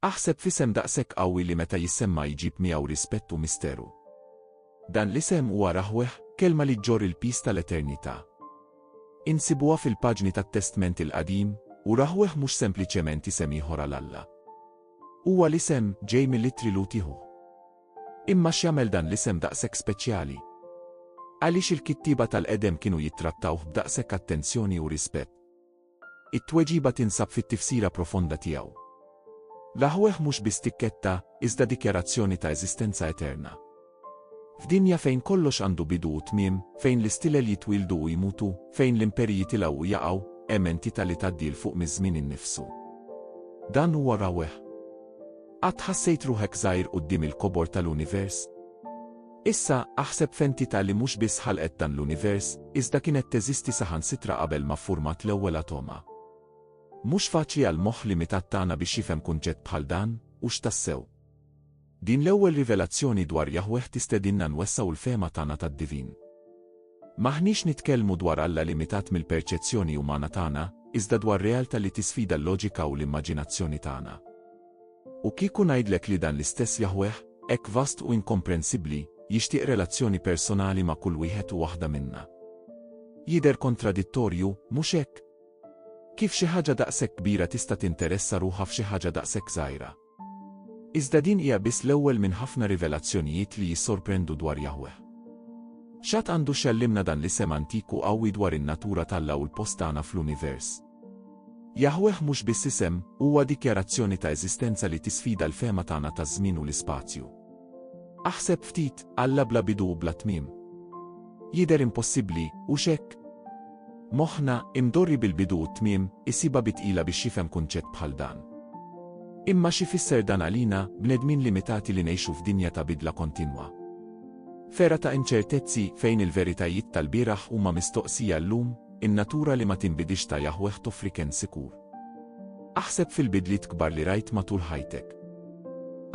Aħseb f'isem daqshekk qawwi li meta jissemma jġib miegħu rispett u misteru. Dan l-isem huwa Raħweh, kelma li ġġorr il-piż tal-eternità. Insibuha fil-paġni tat-Testment il-Qadim, u Raħweh mhux sempliċement isem ieħor għal Alla. Huwa l-isem ġej mill-ittri Lutihu. Imma x'jagħmel dan l-isem daqshekk speċjali? Għaliex il-kittieba tal-qedem kienu jittrattawh b'daqshekk attenzjoni u rispett? It-tweġiba tinsab fit-tifsira profonda tiegħu. L-aħweh mhux biss tikketta, iżda dikjarazzjoni ta' eżistenza eterna. F'dinja fejn kollox għandu bidu u tmiem, fejn l-istilel jitwieldu u jmutu, fejn l-imperji jitilgħu u jaqgħu, hemm entità li tgħaddi 'l fuq miż-żmien innifsu. Dan huwa rawweh. Qatt ħassejt ruħek żgħir quddiem il-kobor tal-univers? Issa, aħseb f'entità li mhux biss ħalqet dan l-univers, iżda kienet teżisti saħansitra qabel ma ffurmat l-ewwel atoma. Mhux faċli għall-moħħ limitat tagħna biex jifhem kunċett bħal dan, hux tassew? Din l-ewwel rivelazzjoni dwar Jaħweh tistedinna nwessgħu l-fehma tagħna tad-divin. M'aħniex nitkellmu dwar Alla limitat mill-perċezzjoni umana tagħna, iżda dwar realtà li tisfida l-loġika u l-immaġinazzjoni tagħna. U kieku ngħidlek li dan l-istess Jaħweh, hekk vast u inkomprensibbli, jixtieq relazzjoni personali ma' kull wieħed u waħda minna? Jidher kontradittorju, mhux hekk? Kif xi ħaġa daqshekk kbira tista' tinteressa ruħha f'xi ħaġa daqshekk żgħira? Iżda din hija biss l-ewwel minn ħafna rivelazzjonijiet li jissorprendu dwar Jaħweh. X'għad għandu x'jgħallimna dan l-isem antik u qawwi dwar in-natura t'Alla u l-post tagħna fl-univers? Jaħweh mhux biss isem, huwa dikjarazzjoni ta' eżistenza li tisfida l-fehma tagħna taż-żmien u l-ispazju. Aħseb ftit, Alla bla bidu u bla tmiem. Jidher impossibbli, hux hekk? Moħħna, imdorri bil-bidu u t-tmiem, isibha bi tqila biex jifhem kunċett bħal dan. Imma x'ifisser dan għalina, bnedmin limitati li ngħixu f'dinja ta' bidla kontinwa? Fera ta' inċertezzi fejn il-veritajiet tal-bieraħ huma mistoqsija llum? In-natura li ma tinbidilx ta' Jaħweh toffri kenn sikur. Aħseb fil-bidliet kbar li rajt matul ħajtek.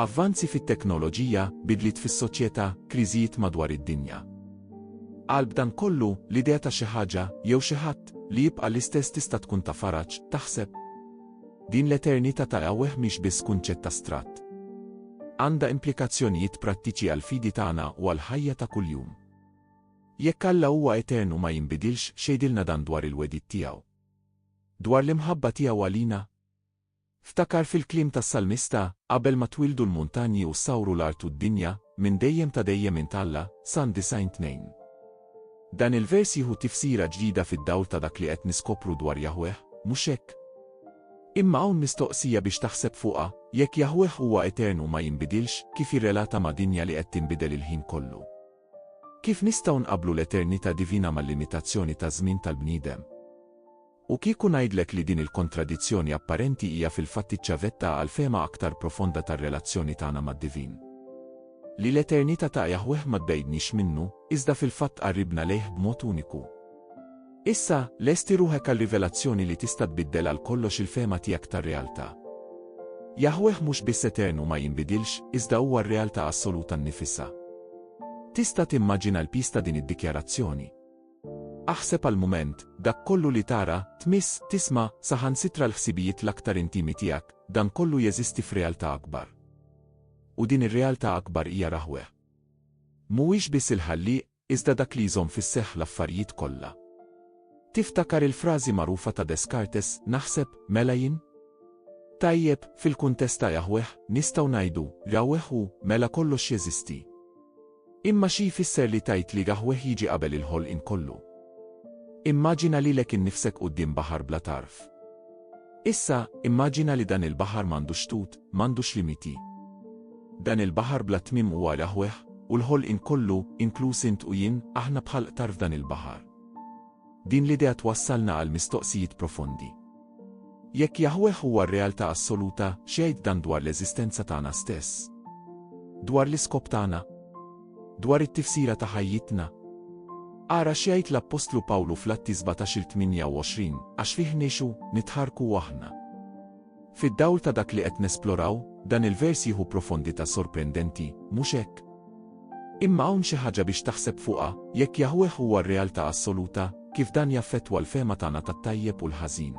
Avvanzi fit-teknoloġija, bidliet fis-soċjetà, kriżijiet madwar id-dinja. Qalb dan kollu, l-idea ta' xi ħaġa, jew xi ħadd, li jibqa' l-istess tista' tkun ta' faraġ, taħseb? Din l-eternità ta' Jaħweh mhix biss kunċett astratt. Għandha implikazzjonijiet prattiċi għall-fidi tagħna u għall-ħajja ta' kuljum. Jekk Alla huwa etern u ma jinbidilx, x'għidilna dan dwar il-wegħdiet tiegħu? Dwar l-imħabba tiegħu għalina? Ftakar fil-kliem tas-salmista, Qabel ma twieldu l-muntanji u ssawru l-art u d-dinja, minn dejjem ta' dejjem int Alla, San 90 2. Dan il-vers jieħu tifsira ġdida fid-dawl ta' dak li qed niskopru dwar Jaħweh, mhux hekk? Imma hawn mistoqsija biex taħseb fuqha, jekk Jaħweh huwa etern u ma jinbidilx, kif jirrelata ma' dinja li qed tinbidel il-ħin kollu? Kif nistgħu nqabblu l-eternità divina mal-limitazzjoni taż-żmien tal-bniedem? U kieku ngħidlek li din il-kontradizzjoni apparenti hija fil-fatt iċ-ċavetta għal fehma aktar profonda tar-relazzjoni tagħna mad-divin. Li l-eternità ta' Jaħweh ma tbegħidniex minnu, iżda fil-fatt tqarribna lejh b'mod uniku. Issa, lesti ruħek għar-rivelazzjoni li tista' tbiddel għal kollox il-fehma tiegħek tar-realtà. Jaħweh mhux biss etern u ma jinbidilx, iżda huwa r-realtà assoluta nnifisha. Tista' timmaġina l-piż ta' din id-dikjarazzjoni? Aħseb għal mument, dak kollu li tara, tmiss, tisma', saħansitra l-ħsibijiet l-aktar intimi tiegħek, dan kollu jeżisti f'realtà akbar. U din ir-realtà akbar hija Raħweh. Mhuwiex biss il-Ħallieq, iżda dak li jżomm fis-seħħ l-affarijiet kollha. Tiftakar il-frażi magħrufa ta' Descartes, naħseb, mela jien? Tajjeb, fil-kuntest ta' Jaħweh, nistgħu ngħidu, Jaħweh hu, mela kollox jeżisti. Imma xi jfisser li tgħid li Jaħweh jiġi qabel il-ħolqien kollu? Immaġina lilek innifsek quddiem baħar bla tarf. Issa, immaġina li dan il-baħar m'għandux xtut, m'għandux limiti. Dan il-baħar bla tmiem huwa l-aħweħ, u l-ħolqien kollu, inkluż int u jien, aħna bħal qtar f'dan il-baħar. Din l-idea twassalna għal mistoqsijiet profondi. Jekk Jaħweh huwa r-realtà assoluta, x'jgħid dan dwar l-eżistenza tagħna stess? Dwar l-iskop tagħna? dwar it-tifsira ta' ħajjitna. Ara x'jgħid l-appostlu Pawlu fl-Atti 17 il 28, għax fih ngħixu, nitħarrku u aħna. Fid-dawl ta' dak li qed nesploraw, dan il-vers jieħu profondità sorprendenti, mhux hekk? Imma hawn xi ħaġa biex taħseb fuqha, jekk Jaħweh huwa r-realtà assoluta, kif dan jaffettwa l-fehma tagħna tat-tajjeb u l-ħażin?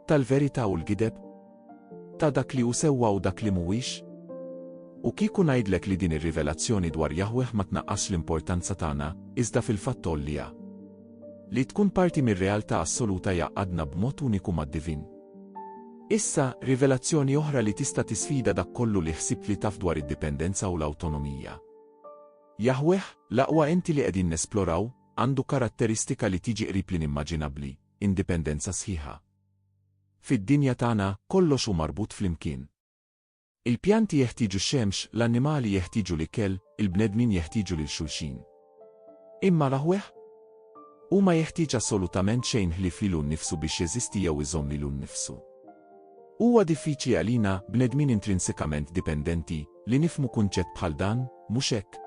tal-verità u l-gideb, ta' dak li hu sewwa u dak li mhuwiex? U kieku ngħidlek li din ir-rivelazzjoni dwar Jaħweh ma tnaqqasx l-importanza tagħna, iżda fil-fatt tgħolliha? Li tkun parti mir-realtà assoluta jgħaqqadna b'mod uniku mad-divin. Issa, rivelazzjoni oħra li tista' tisfida dak kollu li ħsibt li taf dwar id-dipendenza u l-awtonomija. Jaħweh, l-aqwa enti li qegħdin nesploraw, għandu karatteristika li tiġi qrib l-inimmaġinabbli, indipendenza sħiħa. Fid-dinja tagħna, kollox hu marbut flimkien. Il-pjanti jeħtieġu x-xemx, l-annimali jeħtieġu l-ikel, il-bnedmin jeħtieġu lil xulxin. Imma l-aħweħ? Huma jeħtieġ assolutament xejn ħlief lilu nnifsu biex jeżisti jew iżomm lilu nnifsu. Huwa diffiċli għalina, bnedmin intrinsikament dipendenti, li nifhmu kunċett bħal dan, mhux hekk?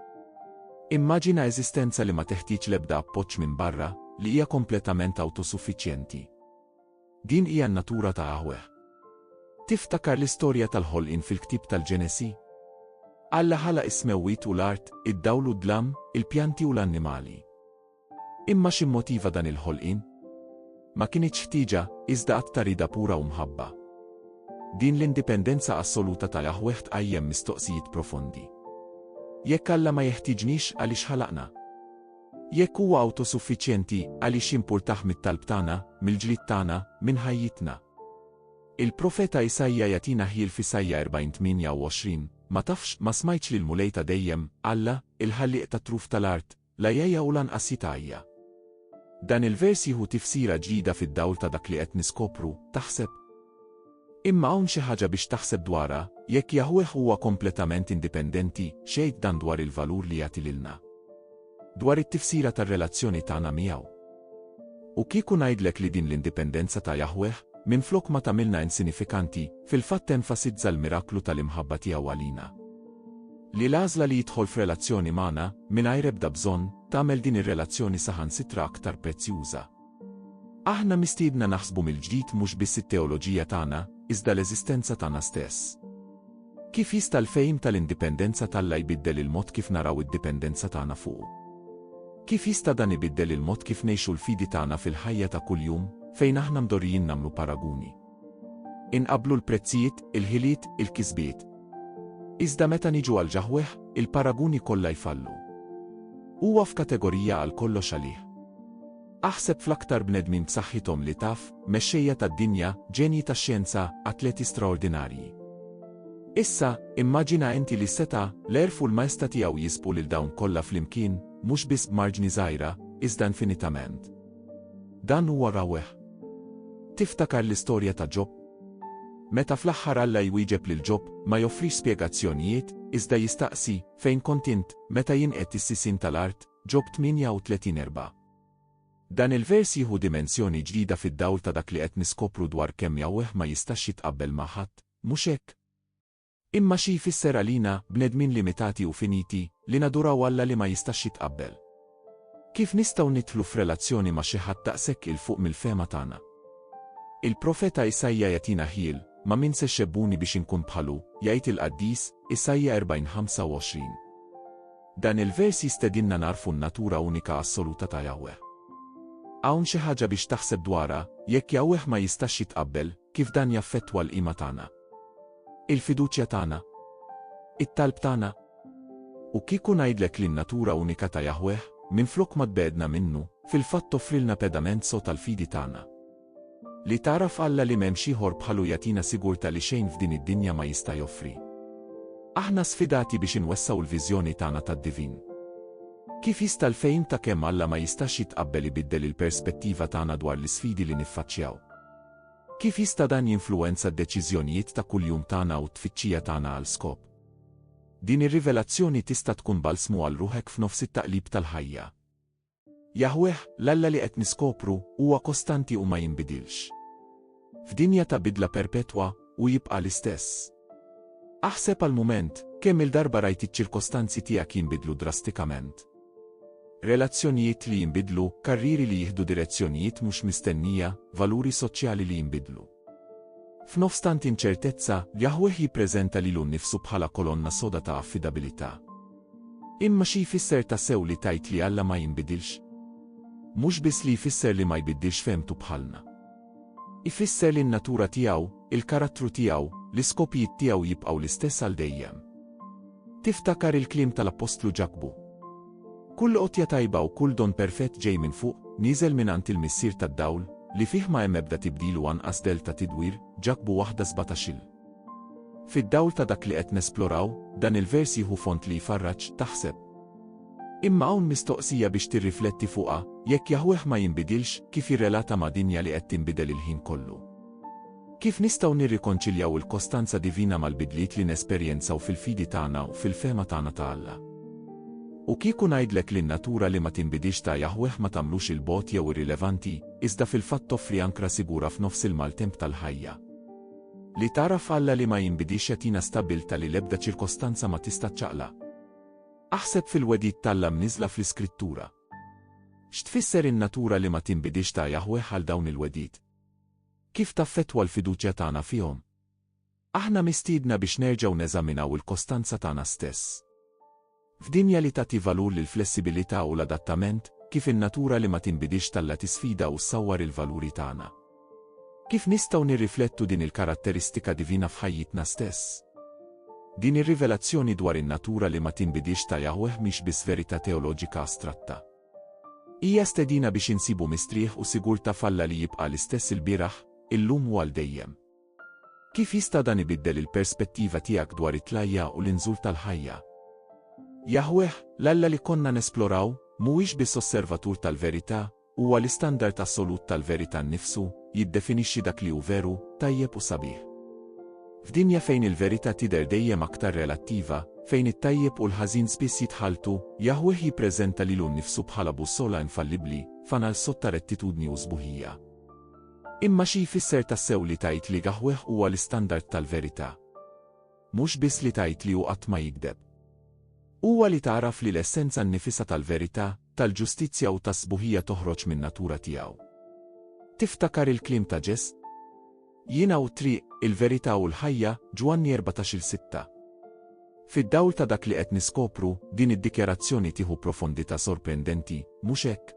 Immaġina eżistenza li ma teħtieġ l-ebda appoġġ minn barra, li hija kompletament awtosuffiċjenti. Din hija n-natura ta' Aħweh. Tiftakar l-istorja tal-ħolqien fil-ktieb tal-Ġenesi? Alla ħalaq is-smewwiet u l-art, id-dawl u d-dlam, il-pjanti u l-annimali. Imma x'immotiva dan il-ħolqien? Ma kinitx ħtieġa, iżda att ta' rieda pura u mħabba. Din l-indipendenza assoluta ta' Jaħweh tqajjem mistoqsijiet profondi. Jekk Alla ma jeħtieġniex, għaliex ħalaqna? Jekk huwa awtosuffiċjenti, għaliex jimpurtah mit-talb tagħna, mill-ġlied tagħna, minn ħajjitna? Il-profeta Isaija jagħtina ħjiel f'Isaija 40:28, Ma tafx, ma smajtx li l-Mulej ta' dejjem, Alla, il-Ħallieq tat-truf tal-art, La jgħja u lanqas jitgħajja. Dan il-vers jieħu tifsira ġdida fid-dawl ta' dak li qed niskopru, taħseb? Imma hawn xi ħaġa biex taħseb dwarha, jekk Jaħweh huwa kompletament indipendenti, x'jgħid dan dwar il-valur li jagħti lilna? Dwar it-tifsira tar-relazzjoni tagħna miegħu. U kieku ngħidlek li din l-indipendenza ta' Jaħweh, minflok ma tagħmilna insinifikanti, fil-fatt tenfasizza l-miraklu tal-imħabba tiegħu għalina. Li l-għażla li jidħol f'relazzjoni magħna, mingħajr ebda bżonn, tagħmel din ir-relazzjoni saħansitra aktar prezzjuża. Aħna mistiedna naħsbu mill-ġdid mhux biss it-teoloġija tagħna, iżda l-eżistenza tagħna stess. Kif jista' l-fehim tal-indipendenza t'Alla jbiddel il-mod kif naraw id-dipendenza tagħna fuqu? Kif jista' dan ibiddel il-mod kif ngħixu l-fidi tagħna fil-ħajja ta' kuljum, fejn aħna mdorrijin nagħmlu paraguni? Inqabblu l-prezzijiet, il-ħiliet, il-kisbiet. Iżda meta niġu għal ġaħwieħ, il-paraguni kollha jfallu. Huwa f'kategorija għal kollox għalih. Aħseb fl-aktar bnedmin b'saħħithom li taf, mexxejja tad-dinja, ġenji tax-xjenza, atleti straordinarji. Issa, immaġina inti li seta, l-erf u l-majsta tiegħu jisbu lil dawn kollha flimkien, mhux biss b'marġni żgħira, iżda infinitament. Dan huwa rawweh. Tiftakar l-istorja ta' Ġob? Meta fl-aħħar Alla jwieġeb lil Ġob, ma joffrix spjegazzjonijiet, iżda jistaqsi, Fejn kont int, meta jinqed is-sisin tal-art? Ġob 38 4. Dan il-vers jieħu dimensjoni ġdida fid-dawl ta' dak li qed niskopru dwar kemm Jahweh ma jistax jitqabbel ma' ħadd, mhux hekk? Imma xi jfisser għalina, bnedmin limitati u finiti, li naduraw Alla li ma jistax jitqabbel? Kif nistgħu nidħlu f'relazzjoni ma' xi ħadd daqshekk 'il fuq mill-fehma tagħna? Il-profeta Isaija jagħtina ħjiel, Ma' min se xebbuni biex inkun bħalu, jgħid il-qaddis, Isaija 40, 25. Dan il-vers jistedinna nagħrfu n-natura unika assoluta ta' Jahweh. Hawn xi ħaġa biex taħseb dwarha, jekk Jahweh ma jistax jitqabbel, Kif dan jaffettwa l-qima tagħna? Il-fiduċja tagħna? It-talb tagħna? U kieku ngħidlek li n-natura unika ta' Jaħweh, minflok ma tbegħedna minnu, fil-fatt toffrilna pedament sod għall-fidi tagħna. Li tagħraf Alla li m'hemmx ieħor bħalu jagħtina sigurtà li xejn f'din id-dinja ma jista' joffri. Aħna sfidati biex inwessgħu l-viżjoni tagħna tad-divin. Kif jista' l-fehim ta' kemm Alla ma jistax jitqabbel ibiddel il-perspettiva tagħna dwar l-isfidi li niffaċċjaw? Kif jista' dan jinfluwenza d-deċiżjonijiet ta' kuljum tagħna u t-tfittxija tagħna għal skop? Din ir-rivelazzjoni tista' tkun balsmu għal ruħek f'nofs it-taqlib tal-ħajja. Jaħweh, l-Alla li qed niskopru, huwa kostanti u ma jinbidilx. F'dinja ta' bidla perpetwa, hu jibqa' l-istess. Aħseb għal mument, kemm-il darba rajt iċ-ċirkostanzi tiegħek jinbidlu drastikament? Relazzjonijiet li jinbidlu, karrieri li jieħdu direzzjonijiet mhux mistennija, valuri soċjali li jinbidlu. F'nofs tant inċertezza, Jahweh jippreżenta lilu nnifsu bħala kolonna soda ta' affidabilità. Imma xi jfisser ta' sew li tajt li Alla ma jinbidilx? Mhux biss li jfisser li ma jbiddilx femtu bħalna. Ifisser li n-natura tiegħu, il-karattru tiegħu, l-iskopijiet tiegħu jibqgħu l-istess għal dejjem. Tiftakar il-kliem tal-appostlu Ġakbu. Kull għotja tajba u kull don perfett ġej minn fuq, nieżel mingħand il-Missier tad-dawl, li fih ma hemm ebda tibdil u anqas dell ta' tidwir, Ġakbu waħda sbatax-il. Fid-dawl ta' dak li qed nesploraw, dan il-vers jieħu fond li jfarraġ, taħseb. Imma hawn mistoqsija biex tirrifletti fuqha, jekk Jaħweh ma jinbidilx, kif jirrelata ma' dinja li qed tinbidel il-ħin kollu? Kif nistgħu nirrikonċiljaw il-kostanza divina mal-bidliet li nesperjenzaw fil-fidi tagħna u fil-fehma tagħna ta' Alla? U kieku ngħidlek li n-natura li ma tinbidilx ta' Jaħweh ma tagħmlux 'il bogħod jew irrilevanti, iżda fil-fatt toffri ankra sigura f'nofs il-maltemp tal-ħajja. Li tara f'Alla li ma jinbidilx jagħtina stabbiltà li l-ebda ċirkostanza ma tista' ċċaqlaq. Aħseb fil-wegħdiet t'Alla mniżżla fl-Iskrittura. X'tfisser in-natura li ma tinbidilx ta' Jaħweh għal dawn il-wegħdiet? Kif taffettwa l-fiduċja tagħna fihom? Aħna mistiedna biex nerġgħu neżaminaw il-kostanza tagħna stess. F'dinja li tagħti valur lill-flessibilità u l-adattament, kif in-natura li ma tinbidilx talla' tisfida u ssawwar il-valuri tagħna? Kif nistgħu nirriflettu din il-karatteristika divina f'ħajjitna stess? Din ir-rivelazzjoni dwar in-natura li ma tinbidilx ta' Jaħweh mhix biss verità teoloġika astratta. Hija stedina biex insibu mistrieħ u sigurtà f'Alla li jibqa' l-istess ilbieraħ, illum u għal dejjem. Kif jista' dan ibiddel il-perspettiva tiegħek dwar it-tlajja u l-inżul tal-ħajja? Jaħweh, l-Alla li konna nesploraw, mhuwiex biss osservatur tal-verità, huwa l-istandard assolut tal-verità nnifsu, jiddefinixxi dak li hu veru, tajjeb u sabiħ. F'dinja fejn il-verità tidher dejjem aktar relattiva, fejn it-tajjeb u l-ħażin spiss jitħalltu, Jaħweh jippreżenta lilu nnifsu bħala bussola infallibbli, fanal sod ta' rettitudni u sbuħija. Imma xi jfisser tassew li tgħid li gahweh huwa l-istandard tal-verità? Mhux biss li tgħid li hu qatt ma jigdeb. Huwa li tagħraf li l-essenza nnifisha tal-verità, tal-ġustizzja u tas-sbuħija toħroġ min-natura tiegħu. Tiftakar il-kliem ta' Ġess? Jiena u t-triq, il-verità u l-ħajja, Ġwanni 14 il-sitta. Fid-dawl ta' dak li qed niskopru, din id-dikjarazzjoni tieħu profondità sorprendenti, mhux hekk?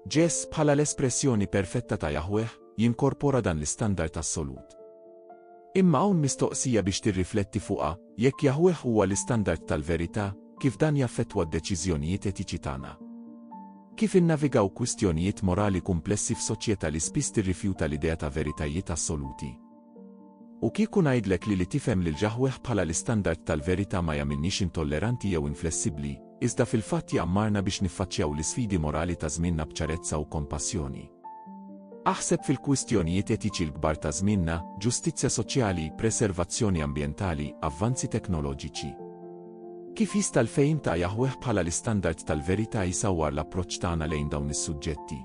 Ġess, bħala l-espressjoni perfetta ta' Jaħweh, jinkorpora dan l-istandard assolut. Imma hawn mistoqsija biex tirrifletti fuqha, jekk Jaħweh huwa l-istandard tal-verità, kif dan jaffettwa d-deċiżjonijiet etiċi tagħna? Kif innavigaw kwistjonijiet morali kumplessi f'soċjetà li spiss tirrifjuta l-idea ta' veritajiet assoluti? U kieku ngħidlek li li tifhem lil Jaħweh bħala l-istandard tal-verità ma jagħmilniex intolleranti jew inflessibbli, iżda fil-fatt jgħammarna biex niffaċċjaw l-isfidi morali ta' żmienna b'ċarezza u kompassjoni. Aħseb fil-kwistjonijiet etiċi l-kbar ta' żmienna, ġustizzja soċjali, preservazzjoni ambjentali, avvanzi teknoloġiċi. Kif jista' l-fehim ta' Jaħweh bħala l-istandard tal-verità jsawwar l-approċċ tagħna lejn dawn is-suġġetti?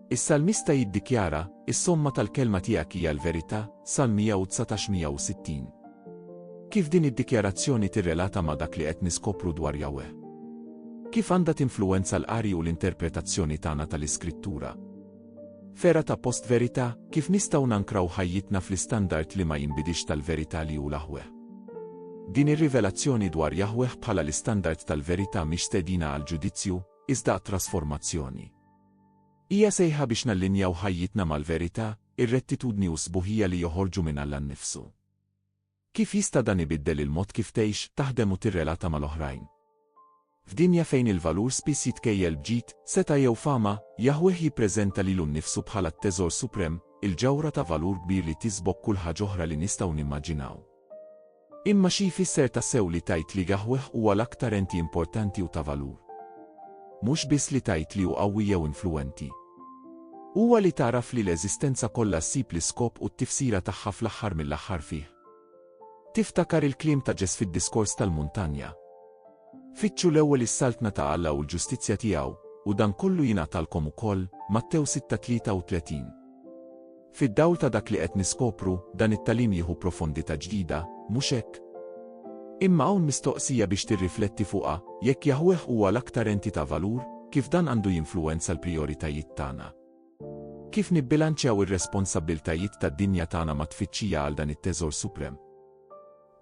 Is-salmista jiddikjara, Is-somma tal-kelma tiegħek hija l-verità, Salm 119 160. Kif din id-dikjarazzjoni tirrelata ma' dak li qed niskopru dwar Jahweh? Kif għandha tinfluwenza l-qari u l-interpretazzjoni tagħna tal-Iskrittura? Fera ta' post verità, kif nistgħu nankraw ħajjitna fl-istandard li ma jinbidix tal-verità li hu l-Aħweh? Din ir-rivelazzjoni dwar Jahweh bħala l-istandard tal-verità mhix stedina għal ġudizzju, iżda għat-trasformazzjoni. Hija sejħa biex nallinjaw ħajjitna mal-verità, ir-rettitudni u s-sbuħija li joħorġu minn Alla nnifsu. Kif jista' dan ibiddel il-mod kif tgħix, taħdem u tirrelata mal-oħrajn? F'dinja fejn il-valur spiss jitkejjel b'ġid, setgħa jew fama, Jaħweh jippreżenta lilu nnifsu bħala t-teżor suprem, il-ġawhra ta' valur kbir li tisbok kull ħaġa oħra li nistgħu nimmaġinaw. Imma xi jfisser tassew li tgħid li gahweh huwa l-aktar enti importanti u ta' valur? Mhux biss li tgħid li hu qawwi jew influwenti. Huwa li tagħraf li l-eżistenza kollha ssib l-iskop u t-tifsira tagħha fl-aħħar mill-aħħar fih. Tiftakar il-kliem ta' Ġes fid-Diskors tal-Muntanja? Fittxu l-ewwel is-saltna ta' Alla u l-ġustizzja tiegħu, u dan kollu jingħatalkom ukoll, Mattew 6:33. Fid-dawl ta' dak li qed niskopru, dan it-tagħlim jieħu profondità ġdida, mhux hekk? Imma hawn mistoqsija biex tirrifletti fuqha, jekk Jaħweh huwa l-aktar enti ta' valur, kif dan għandu jinfluwenza l-prijoritajiet tagħna? Kif nibbilanċjaw ir-responsabbiltajiet tad-dinja tagħna mat-tfittxija għal dan it-teżor suprem?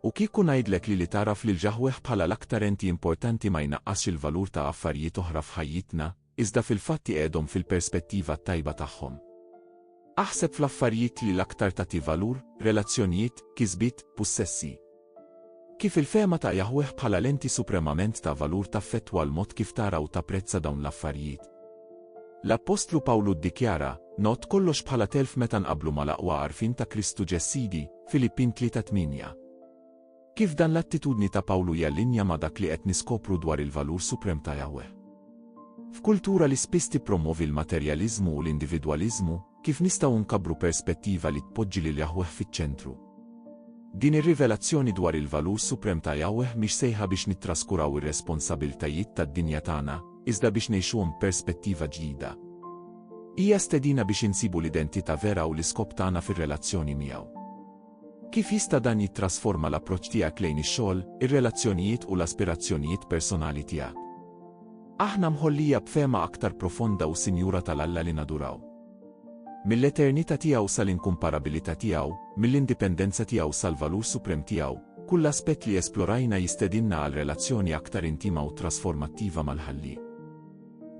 U kieku ngħidlek li li tagħraf lil Jaħweh bħala l-aktar enti importanti ma jnaqqasx il-valur ta' affarijiet oħra f'ħajjitna, iżda fil-fatt iqegħdhom fil-perspettiva t-tajba tagħhom. Aħseb fl-affarijiet li l-aktar tagħti valur, relazzjonijiet, kisbiet, pussessi. Kif il-fehma ta' Jaħweh bħala l-Enti supremament ta' valur taffettwa l-mod kif tara u tapprezza dawn l-affarijiet? L-appostlu Pawlu ddikjara, Ngħodd kollox bħala telf meta nqabblu mal-aqwa għarfien ta' Kristu Ġes Sidi, Filippin 3:8. Kif dan l-attitudni ta' Pawlu jallinja ma' dak li qed niskopru dwar il-valur suprem ta' Jaħweh? F'kultura li spiss tippromwovi l-materjaliżmu u l-individwaliżmu, kif nistgħu nkabbru perspettiva li tpoġġi lil Jaħweh fiċ-ċentru? Din ir-rivelazzjoni dwar il-valur suprem ta' Jaħweh mhix sejħa biex nittraskuraw ir-responsabbiltajiet tad-dinja tagħna, iżda biex ngħixuhom b'perspettiva ġdida. Hija stedina biex insibu l-identità vera u l-iskop tagħna fir-relazzjoni miegħu. Kif jista' dan jittrasforma l-approċċ tiegħek lejn ix-xogħol, ir-relazzjonijiet u l-aspirazzjonijiet personali tiegħek? Aħna mħollija b'fehma aktar profonda u sinjura tal-Alla li naduraw. Mill-eternità tiegħu sal-inkumparabilità tiegħu, mill-indipendenza tiegħu sal-valur suprem tiegħu, kull aspett li esplorajna jistedinna għal relazzjoni aktar intima u trasformattiva mal-Ħallieq.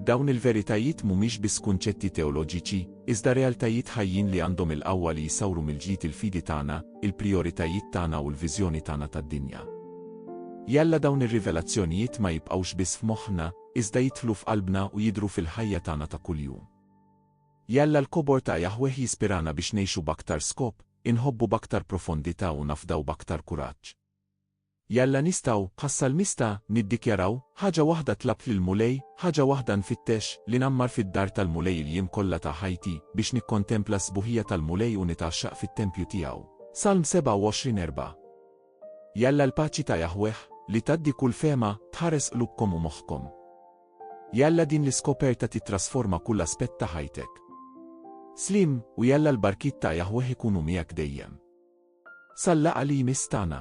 Dawn il-veritajiet mhumiex biss kunċetti teoloġiċi, iżda realtajiet ħajjin li għandhom il-qawwa li jsawru mill-ġdid il-fidi tagħna, il-prijoritajiet tagħna u l-viżjoni tagħna tad-dinja. Jalla dawn ir-rivelazzjonijiet ma jibqgħux biss f'moħħna, iżda jidħlu f'qalbna u jidhru fil-ħajja tagħna ta' kuljum. Jalla l-kobor ta' Jaħweh jispirana biex ngħixu b'aktar skop, inħobbu b'aktar profondità u nafdaw b'aktar kuraġġ. Jalla nistgħu, bħas-salmista, niddikjaraw, Ħaġa waħda tlabt lill-Mulej, ħaġa waħda nfittex, li ngħammar fid-dar tal-Mulej il-jiem kollha ta' ħajti, biex nikkontempla s-sbuħija tal-Mulej u nitgħaxxaq fit-tempju tiegħu. Salm 27 4 Jalla l-paċi ta' Jaħweh, li tgħaddi kull fehma, tħares qlubkom u moħħkom. Jalla din l-iskoperta tittrasforma kull aspett ta' ħajtek. Slim, u jalla l-barkiet ta' Jaħweh ikunu miegħek dejjem. Sal-laqgħa li jmiss tagħna.